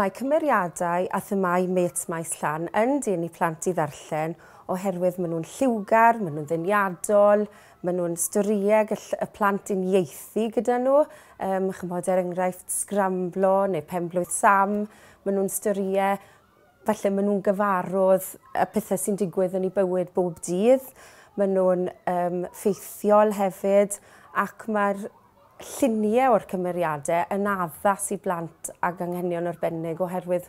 Mae cymeriadau a themâu mêts Maes Llan yn dyn i plant i ddarllen oherwydd maen nhw'n lliwgar, maen nhw'n ddeniadol, maen nhw'n storïau gall y plant uniaethu gyda nhw, chimod, er enghraifft, Sgramblo neu Pen-blwydd Sam, maen nhw'n storïau Falle maen nhw'n gyfarwdd y pethau sy'n digwydd yn eu bywyd bob dydd, maen nhw'n um, ffeithiol hefyd, ac mae'r lluniau o'r cymeriadau yn addas i blant ag anghenion arbennig oherwydd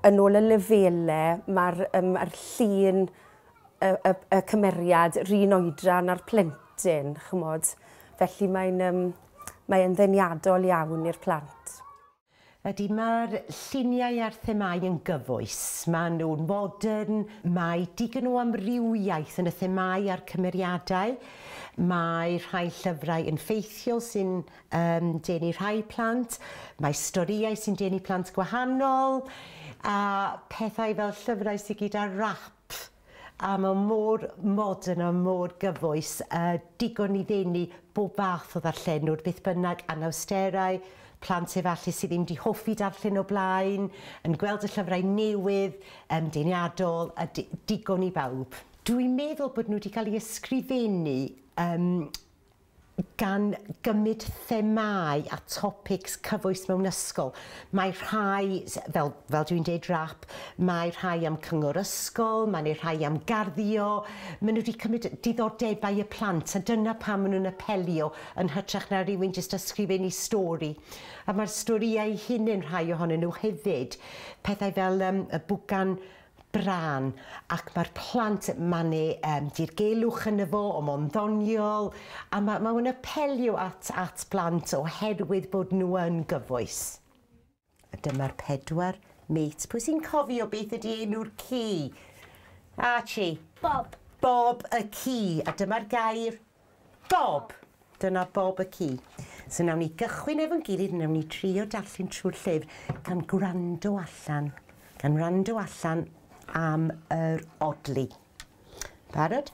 yn ôl y lefelau mae'r um, er llun y, y, y cymeriad rhan oedran a'r plentyn, chymod. Felly mae'n um, mae ddeniadol iawn i'r plant. Ydy, mae'r lluniau a'r themâu yn gyfoes. Maen nhw'n fodern, mae digon o amrywiaeth yn y themâu a'r cymeriadau. Mae rhai llyfrau yn ffeithiol sy'n um, denu rhai plant, mae storïau sy'n denu plant gwahanol, a pethau fel llyfrau sydd gyda rap a mae mor modern a mor gyfoes, a digon i ddenu bob fath o ddarllenwr, beth bynnag, anawsterau, plant efallai sydd ddim 'di hoffi darllen o blaen, yn gweld y llyfrau newydd, yym, deniadol, a di- digon i bawb. Dwi'n meddwl bod nhw 'di cael eu ysgrifennu, yym, gan gymryd themâu a topics cyfoes mewn ysgol. Mae rhai, fel, fel dwi'n deud, rap, mae rhai am cyngor ysgol, mae neu rhai am garddio, maen nhw wedi cymryd diddordebau y plant a dyna pam maen nhw'n apelio yn hytrach na rhywun jyst ysgrifennu stori. A mae'r storïau eu hunain, rhai ohonyn nhw hefyd, pethau fel yym y bwgan brân ac mae'r plant yn manu yym dirgelwch yno fo o mo'n ddoniol a ma' ma' fe'n apelio at at blant oherwydd bod nhw yn gyfoes. A dyma'r pedwar mêt. Pwy sy'n cofio beth ydi enw'r ci? Archie. Bob. Bob y ci a dyma'r gair? Bob! Dyna bob y ci. So wnawn ni gychwyn efo'n gilydd, wnawn ni trio darllen trwy'r llyfr gan gwrando allan, gan wrando allan am yr odli. Barod?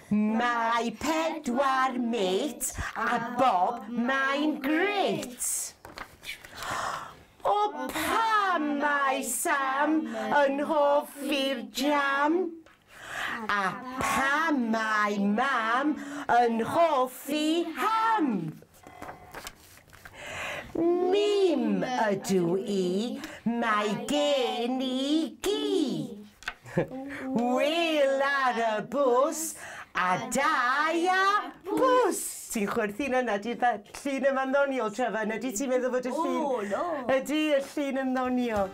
Mae pedwar mêt a bob mae'n grêt! O pam mae Sam yn hoffi'r jam? A pam mae mam yn hoffi ham? Mim ydw i, mae gen i gi. Wyl ar y bws a da ia bws! Ti'n chwerthin yna, di'r fe- llun yma'n ddoniol, Trevor, neu ydy ti'n meddwl fod y llun... O, no! Ydy, y llun yn ddoniol.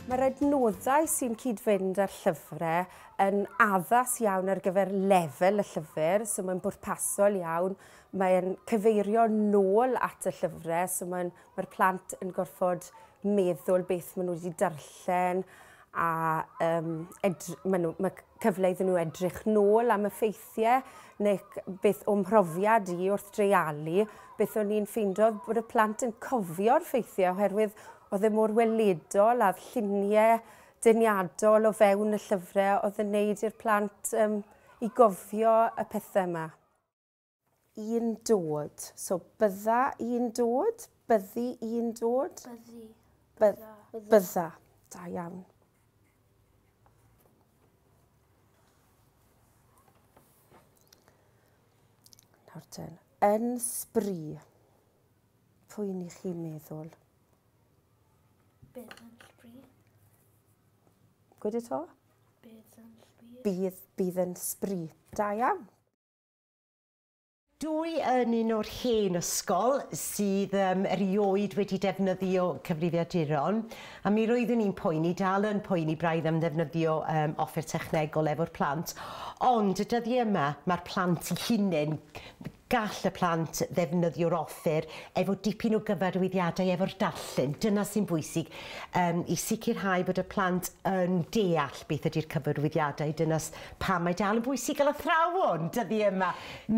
Mae'r adnoddau sy'n cyd-fynd â'r llyfrau yn addas iawn ar gyfer lefel y llyfr, so mae'n bwrpasol iawn. Mae'n cyfeirio nôl at y llyfrau, so mae'n, mae'r plant yn gorfod meddwl beth maen nhw wedi darllen, a um, edry, ma, nhw, ma cyfle iddyn nhw edrych nôl am y ffeithiau neu beth o'm mhrofiad i wrth dreialu, beth o'n i'n ffeindio bod y plant yn cofio'r ffeithiau oherwydd oedd e mor weledol a'r lluniau deniadol o fewn y llyfrau oedd yn neud i'r plant um, i gofio y pethau yma. I'n dod. So bydda i'n dod, byddi i'n dod. Byddi. Bydda. Bydda. Da iawn. Nawr ten, yn sbri, pwy ni chi meddwl? Bydd yn sbri. Gwyd y to? Bydd yn sbri. Bydd, bydd yn sbri. Da iawn. Dw i yn un o'r hen ysgol sydd yym erioed wedi defnyddio cyfrifiaduron, a mi roeddwn i'n poeni, dal yn poeni braidd am ddefnyddio um, offer technegol efo'r plant, ond y dyddiau yma mae'r plant i hunain, gall y plant ddefnyddio'r offer efo dipyn o gyfarwyddiadau efo'r darllen, dyna sy'n bwysig, um, i sicrhau bod y plant yn deall beth ydy'r cyfarwyddiadau, dyna Pam mae dal yn bwysig gael athrawon dyddi yma?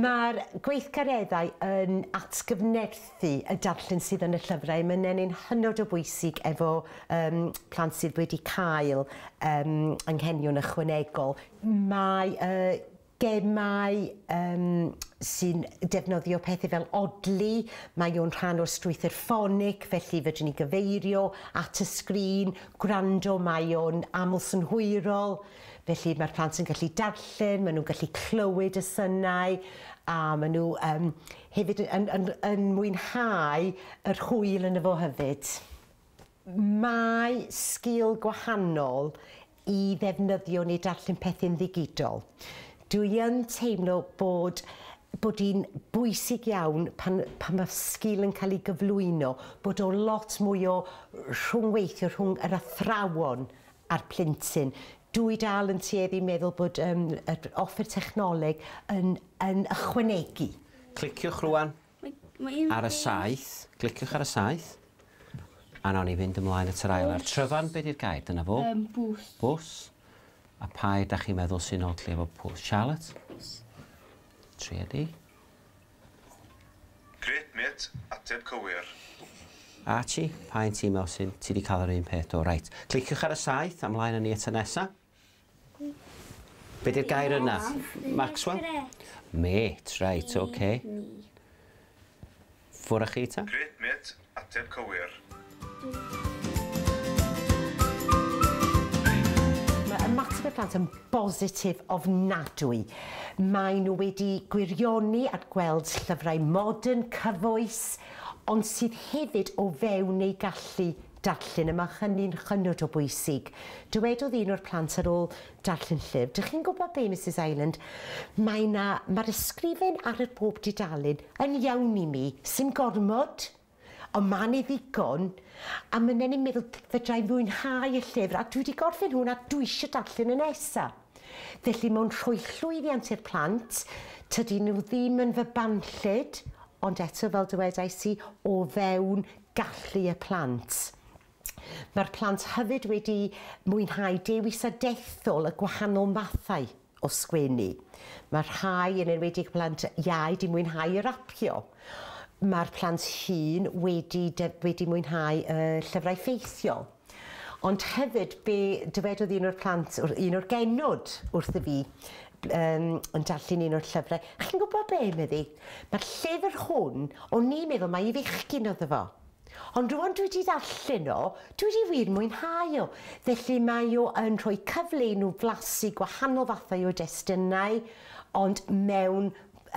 Mae'r gweithgareddau yn atgyfnerthu y darllen sydd yn y llyfrau a mae nenni'n hynod o bwysig efo um, plant sydd wedi cael um, anghenion ychwanegol. Mae uh, gemau um, sy'n defnyddio pethau fel odli, mae o'n rhan o'r strwythyr ffonig, felly fedrwn ni gyfeirio at y sgrin, gwrando, mae o'n aml synhwyrol. Felly mae'r plant yn gallu darllen, maen nhw'n gallu clywed y synau a maen nhw um, hefyd yn, yn, yn, yn mwynhau yr hwyl yn y fo hefyd. Mae sgil gwahanol i ddefnyddio neu darllen pethau'n ddigidol. Dwi yn teimlo bod bod hi'n bwysig iawn pan, pan mae sgil yn cael ei gyflwyno, bod o lot mwy o rhwngweithio rhwng yr athrawon a'r plentyn. Dw i dal yn tueddu i meddwl bod um, yr offer technoleg yn, yn ychwanegu. Cliciwch rwan ar y saith, cliciwch ar y saith, a nawn ni fynd ymlaen at yr ail ar tryfan, beth yw'r gair, dyna fo? Um, bws. Bws. A pa da chi'n meddwl sy'n odli efo pws? Charlotte? Triedi. Grêt mêt, ateb cywir. Archie, pa un ti me'wl sy'n, ti di cael yr un peth do, reit. Cliciwch ar y saith a mlaen â ni at y nesa. Be di'r gair yna? Maxwell? Mêt, reit, oce. Ffwr â chi ta? Grêt mêt, Ateb cywir. Mae ymateb y plant yn bositif ofnadwy. Maen nhw wedi gwirioni at gweld llyfrau modern, cyfoes, ond sydd hefyd o fewn eu gallu darllen, a mae hynny'n hynod o bwysig. Dywedodd un o'r plant ar ôl Darllen llyfr. Dych chi'n gwybod be, Misus Ireland, mae 'na, mae'r ysgrifen ar yr bob dudalen yn iawn i mi, sim gormod, ond ma' 'ne ddigon, a myn'na ni'n meddwl fedra i fwynhau y llyfr, a dwi 'di gorffen hwn a dwi isio darllen y nesa. Felly mae'n rhoi llwyddiant i'r plant, tydyn nhw ddim yn fy banllyd, ond eto fel dywedais i, o fewn gallu y plant. Mae'r plant hefyd wedi mwynhau dewis a dethol y gwahanol fathau o sgwennu. Mae rhai, yn enwedig plant iau, 'di mwynhau y rapio. Mae'r plant hŷn wedi def- wedi mwynhau y llyfrau ffeithiol. Ond hefyd, be dywedodd un o'r plant, wr- un o'r genod wrtho fi, yym, yn darllen un o'r llyfrau, chi'n gwybod be, medde hi, mae'r llyfr hwn, o'n i'n meddwl mai i fechgyn oedd o fo. Ond rŵan dwi 'di darllen o, dwi 'di wir mwynhau o. Felly mae o yn rhoi cyfle i nhw flasu gwahanol fathau o destunau, ond mewn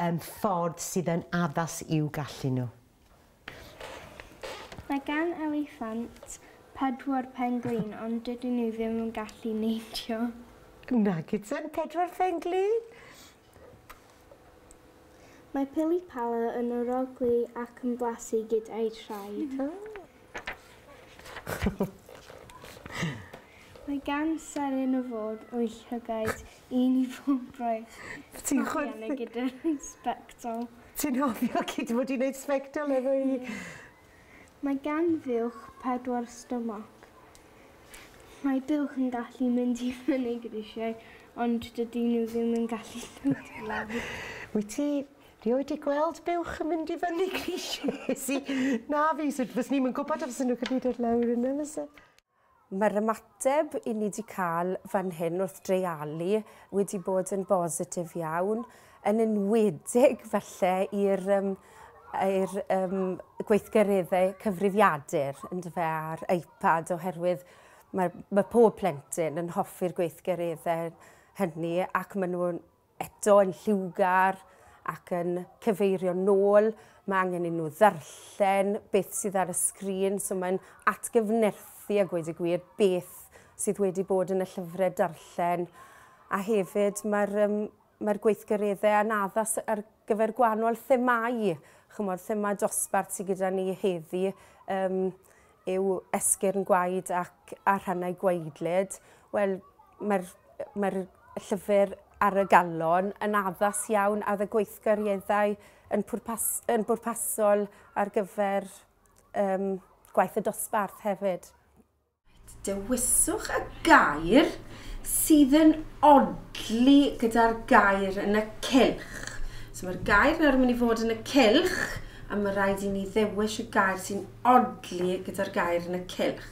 um, ffordd sydd yn addas i'w gallu nhw. Mae gan eliffant pedwar penglin ond dydyn nhw ddim yn gallu neidio. Nag ydyn, pedwar penglin? Mae pili pala yn arogli ac yn blasu gyda'i thraed. Mae gan seren y ford o'i llygaid un i bob braich. Ti'n chwerthin? Gyda'r sbectol. Ti'n hofio cyd fod i'n neud sbectol efo i? Mae gan fuwch pedwar stomach. Mae buwch yn gallu mynd i fyny grisiau ond dydyn nhw ddim yn gallu dod i lawr. Wyt ti rioed di gweld buwch yn mynd i fyny grisiau? Wnes i. Na fi, so fyswn i'm yn gwybod os fyswn nhw'n gallu dod lawr yna fyse? Mae'r ymateb i ni 'di cael fan hyn wrth dreialu wedi bod yn bositif iawn, yn enwedig falle i'r um, i'r um, gweithgareddau cyfrifiadur yndyfe a'r iPad oherwydd mae, mae pob plentyn yn hoffi'r gweithgareddau hynny ac maen nhw'n eto yn lliwgar ac yn cyfeirio'n nôl, mae angen i nhw ddarllen beth sydd ar y sgrin, so mae'n atgyfnerthu a gweud y gwir beth sydd wedi bod yn y llyfrau darllen. A hefyd mae'r um, mae'r gweithgareddau a'n addas ar gyfer gwahanol themâu, ch'mod thema dosbarth sy gyda ni heddi yym yw esgyrn gwaed ac a rhannau gwaedlyd. Wel mae'r mae'r llyfr ar y galon yn addas iawn a oedd y gweithgareddau yn pwrpas yn bwrpasol ar gyfer yym gwaith y dosbarth hefyd. Dewiswch y gair sydd yn odli gyda'r gair yn y cylch. So mae'r gair nawr yn mynd i fod yn y cylch a mae rhaid i ni ddewis y gair sy'n odli gyda'r gair yn y cylch.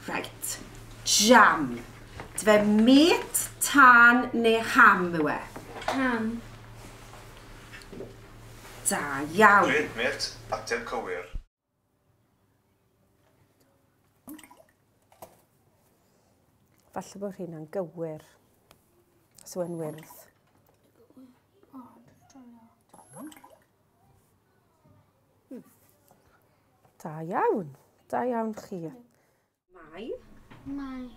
Right. Jam. Dwe met, tân neu ham yw e? Ham. Da iawn. Dwe met, ateb cywir. Falle bod hyn yn gywir. Os yw'n wyrdd. Da iawn. Da iawn chi. Mae. Mae.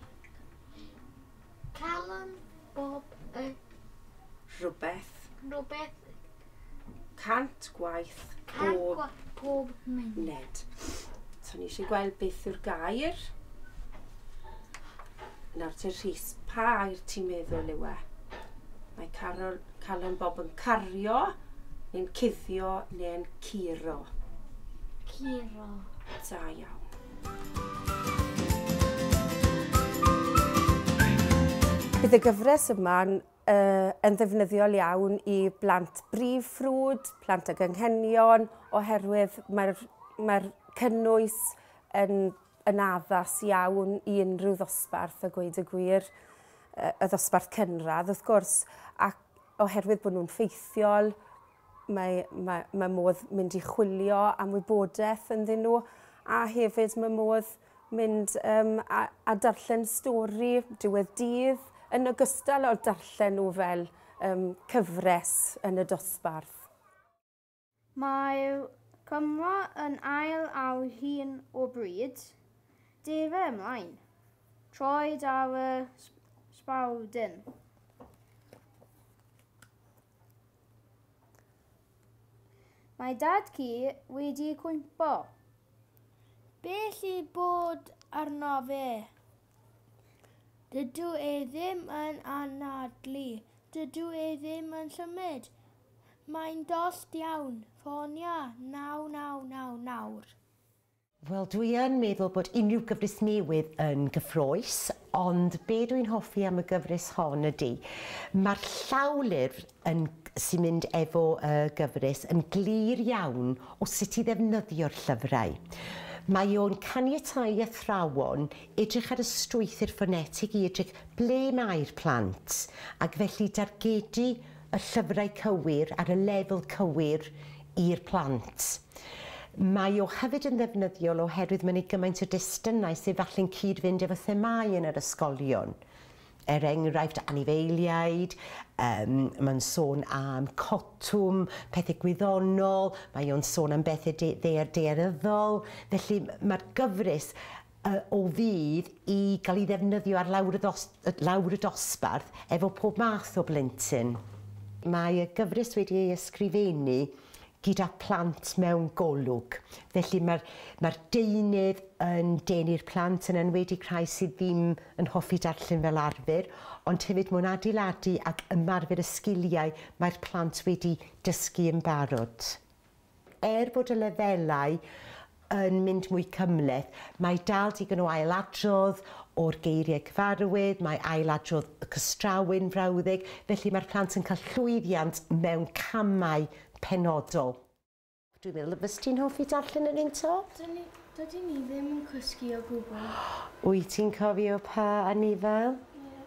Calon bob y. Rhywbeth. Rhywbeth. Cant gwaith pob. Pob munud. So ni eisiau gweld beth yw'r gair. Nawr te Rhys, pa air ti'n meddwl yw e? Mae Carol, Calon Bob yn cario, neu'n cuddio, neu'n curo. Curo. Da iawn. Bydd y gyfres yma yn ddefnyddiol iawn i blant brif ffrwd, plant ag anghenion, oherwydd mae'r mae cynnwys yn, yn addas iawn i unrhyw ddosbarth a gweud y gwir, y ddosbarth cynradd wrth gwrs, ac oherwydd bod nhw'n ffeithiol, Mae, mae, mae modd mynd i chwilio am wybodaeth ynddyn nhw a hefyd mae modd mynd um, a, a darllen stori diwedd dydd yn ogystal o'r darllen nhw fel um, cyfres yn y dosbarth. Mae Cymro yn ail ar hyn o bryd. Defa ymlaen. Troed ar y sbawdyn. Mae dad ci wedi cwympo. Be lle bod arno fe? Dydw e ddim yn anadlu. Dydw e ddim yn symud. Mae'n dost iawn. Ffonia 999 nawr. Wel dwi yn meddwl bod unrhyw gyfres newydd yn gyffrous, ond be dwi'n hoffi am y gyfres hon ydy, mae'r llawlyfr yn, sy'n mynd efo y gyfres yn glir iawn o sut i ddefnyddio'r llyfrau. Mae o'n caniatáu i athrawon edrych ar y strwythur ffonetig i edrych ble mae'r plant, ac felly dargedu y llyfrau cywir ar y lefel cywir i'r plant. Mae o hefyd yn ddefnyddiol oherwydd mae'n ei gymaint o destunau sydd falle'n cyd-fynd efo themâu yn yr ysgolion. Er enghraifft, anifeiliaid, um, mae'n sôn am cotwm, pethau gwyddonol, mae o'n sôn am bethau de ddear dearyddol. Felly mae'r gyfres y o fudd i gael ei ddefnyddio ar lawr y ddos- lawr y dosbarth efo pob math o blentyn. Mae y gyfres wedi ei ysgrifennu gyda phlant mewn golwg, felly mae'r mae'r deunydd yn denu'r plant, yn enwedig rhai sydd ddim yn hoffi darllen fel arfer, ond hefyd mae'n adeiladu ac ymarfer y sgiliau mae'r plant wedi dysgu yn barod. Er bod y lefelau yn mynd mwy cymhleth, mae dal digon o ailadrodd o'r geiriau cyfarwydd, mae ailadrodd y cystrawu'n frawddeg, felly mae'r plant yn cael llwyddiant mewn camau penodol. Dwi'n meddwl y fyst ti'n hoffi darllen yr un to? Dyn ni, dydyn ni ddim yn cysgu o gwbl. Wyt ti'n cofio pa anifail? Ie.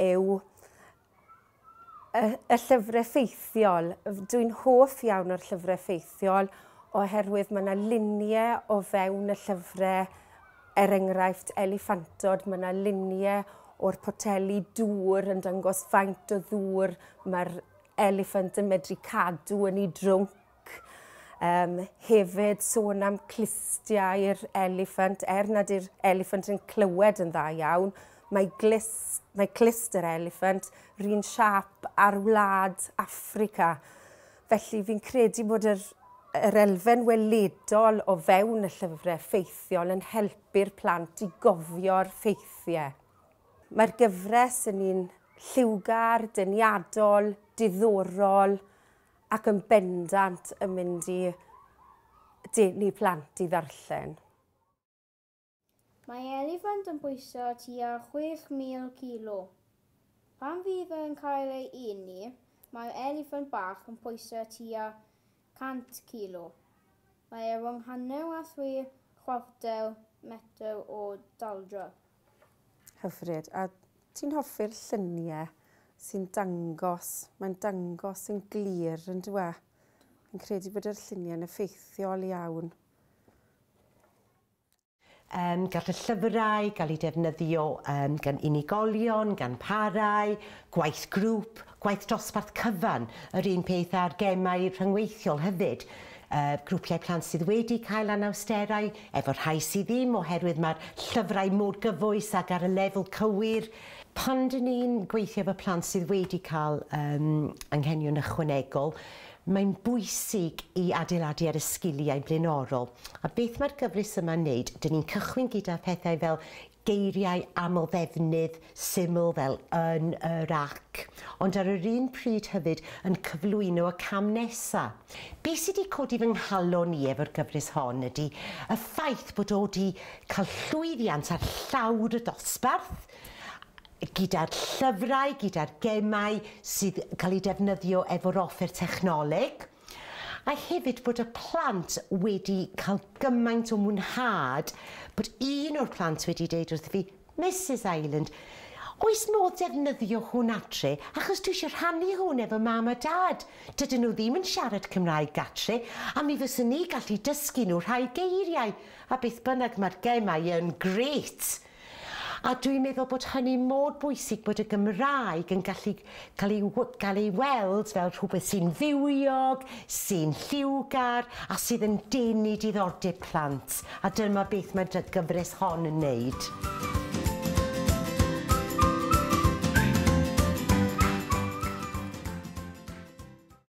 yw y llyfrau ffeithiol. Dwi'n hoff iawn o'r llyfrau ffeithiol oherwydd mae yna luniau o fewn y llyfrau, er enghraifft eliffantod, mae yna luniau o'r poteli dŵr yn dangos faint o ddŵr mae'r eliffant yn medru cadw yn ei drwnc. ac um, hefyd sôn am clustiau'r eliffant, er nad yw'r eliffant yn clywed yn dda iawn, mae, glis, mae clust yr eliffant rhywun siap ar wlad Africa. Felly fi'n credu bod yr, yr elfen weledol o fewn y llyfrau ffeithiol yn helpu'r plant i gofio'r ffeithiau. Mae'r gyfres yn un lliwgar, deniadol, diddorol, ac yn bendant yn mynd i denu plant i ddarllen. Mae eliffant yn bwyso tua 6,000 kilo. Pan fydd yn cael ei eni, mae'r eliffant bach yn pwyso tua 100 kilo. Mae e rhwng hanner a thri chwarter metr o daldra. Hyfryd. A ti'n hoffi'r llunie sy'n dangos, mae'n dangos yn glir yn dwi? Fi'n credu bod yr lluniau'n effeithiol iawn. Um, gall y llyfrau gael eu defnyddio um, gan unigolion, gan parau, gwaith grŵp, gwaith dosbarth cyfan, yr un peth a'r gemau rhyngweithiol hefyd. y grwpiau plant sydd wedi cael anawsterau, efo'r rhai sydd ddim oherwydd mae'r llyfrau mor gyfoes ac ar y lefel cywir. Pan dyn ni'n gweithio efo plant sydd wedi cael um, anghenion ychwanegol, mae'n bwysig i adeiladu ar y sgiliau blaenorol. A beth mae'r gyfres yma'n wneud? Dyn ni'n cychwyn gyda phethau fel Geiriau amlddefnydd syml fel yn, yr ac, ond ar yr un pryd hefyd yn cyflwyno y cam nesa'. Be' sy' 'di codi fy nghalon i efo'r gyfres hon ydi y ffaith bod o 'di ca'l llwyddiant ar llawr y dosbarth, gyda'r llyfrau, gyda'r gemau sydd ca'l eu defnyddio efo'r offer technoleg. A hefyd bod y plant wedi cael gymaint o mwynhad, bod un o'r plant wedi deud wrtho fi, Misus Ireland, oes modd defnyddio hwn adre, achos dwi eisiau rhannu hwn efo mam a dad, dydyn nhw ddim yn siarad Cymraeg gatre, a mi fyswn i gallu dysgu nhw rhai geiriau, a beth bynnag, mae'r gemau yn grêt! A dw i'n meddwl bod hynny mor bwysig bod y Gymraeg yn gallu cael ei gael ei weld fel rhywbeth sy'n fywiog, sy'n lliwgar a sydd yn denu diddordeb plant, a dyma beth mae'r gyfres hon yn wneud.